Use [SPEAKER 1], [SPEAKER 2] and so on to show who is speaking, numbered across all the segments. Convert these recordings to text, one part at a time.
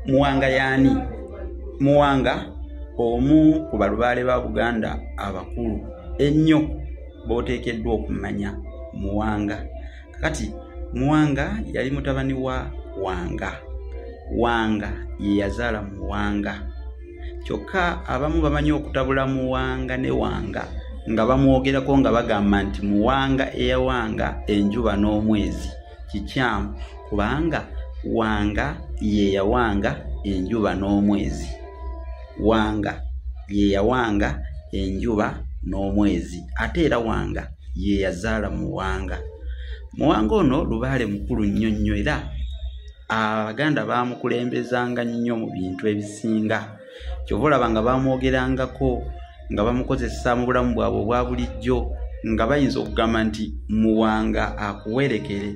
[SPEAKER 1] muwanga yaani muwanga omu ku balubaale ba buganda abakulu ennyo booteekeddwa okumanya muwanga kakati muwanga yali mutabani wa wanga wanga ye yazaala muwanga kyokka abamu bamanyi okutabula muwanga ne wanga nga bamwogerako nga bagamba nti muwanga eyawanga enjuba n'omwezi kikyamu kubanga wanga yeyawanga enjuba n'omwezi wanga yeyawanga enjuba n'omwezi ate era wanga yeyazaala muwanga muwanga ono lubaale mukulu nnyo nnyo era abaganda baamukulembezanga nnyo mu bintu ebisinga kyova olaba nga bamwogerangako nga bamukozesa mu bulamu bwabwe obwa bulijjo nga bayinza okugamba nti muwanga akuwerekere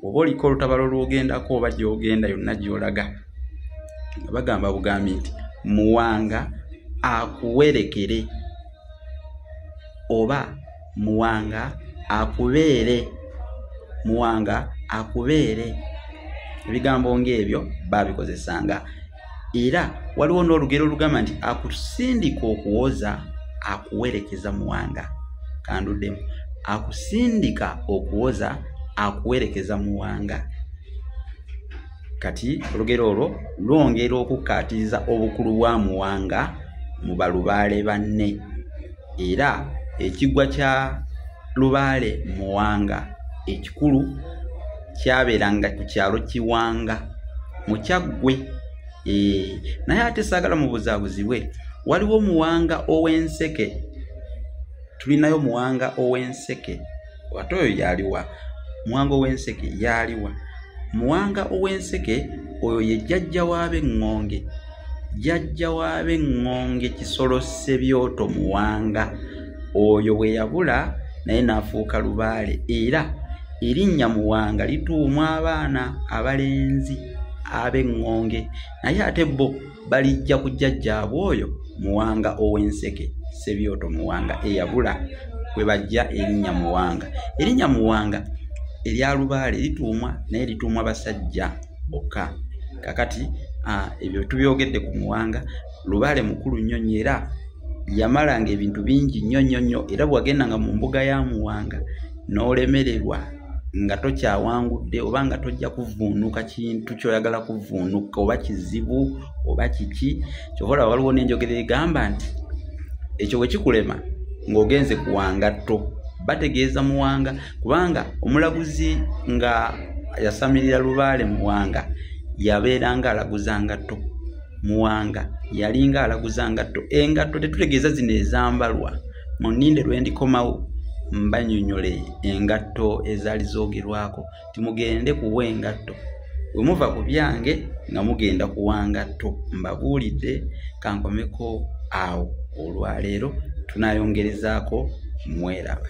[SPEAKER 1] oba oliko olutabalo lwogendako oba gyogenda yonna gyolaga nga bagamba bugambi nti muwanga akuwerekere oba muwanga akubeere muwanga akubeere ebigambo ngaebyo babikozesanga era waliwo n'olugero olugamba nti akusindika okuwoza akuwerekeza muwanga kanduddemu akusindika okuwoza akuwerekeza muwanga kati olugero olwo lwongera okukkaatiriza obukulu bwa muwanga mu balubaale banne era ekigwa kya lubaale muwanga ekikulu kyabeeranga ku kyalo kiwanga mukyaggwe eh, naye ate saagala mubuzabuzibwe waliwo muwanga ow'enseke tulinayo muwanga ow'enseke ate oyo yaliwa muwanga ow'enseke yaliwa muwanga ow'enseke oyo ye jjajja waabe ŋŋonge jjajja w'ab'eŋŋonge kisolo ssebyoto muwanga oyo bwe yabula naye n'afuuka lubaale era erinnya muwanga lituumwa abaana abalenzi ab'eŋŋonge naye ate bo balijja ku jjajjaabwe oyo muwanga ow'enseke ssebyoto muwanga eyabula kwe bajja erinnya muwanga erinnya muwanga erya lubaale lituumwa naye lituumwa basajja bokka kakati ebyo tubyogedde ku muwanga lubaale mukulu nnyo nnyo era yamalanga ebintu bingi nnyo nnyo nnyo era bwewagendanga mu mbuga ya muwanga n'olemererwa nga tokyawangudde oba nga tojja kuvuunuka kintu kyoyagala kuvuunuka oba kizibu oba kiki kyova olaba waliwo n'enjogera egamba nti ekyo bwe kikulema ng'ogenze kuwangatto bategeeza muwanga kubanga omulaguzi nga yasamirira lubaale muwanga yabeeranga alaguza ngatto muwanga yalinga alaguza ngatto engatto tetutegeeza zino ezambalwa mu nninde lwe ndikomawo mbanyonyole engatto ezaali zoogerwako timugende kuwa engatto bwe muva ku byange nga mugenda kuwa ngatto mbabuulidde kankomeko awo olwaleero tunayongerezaako mweraba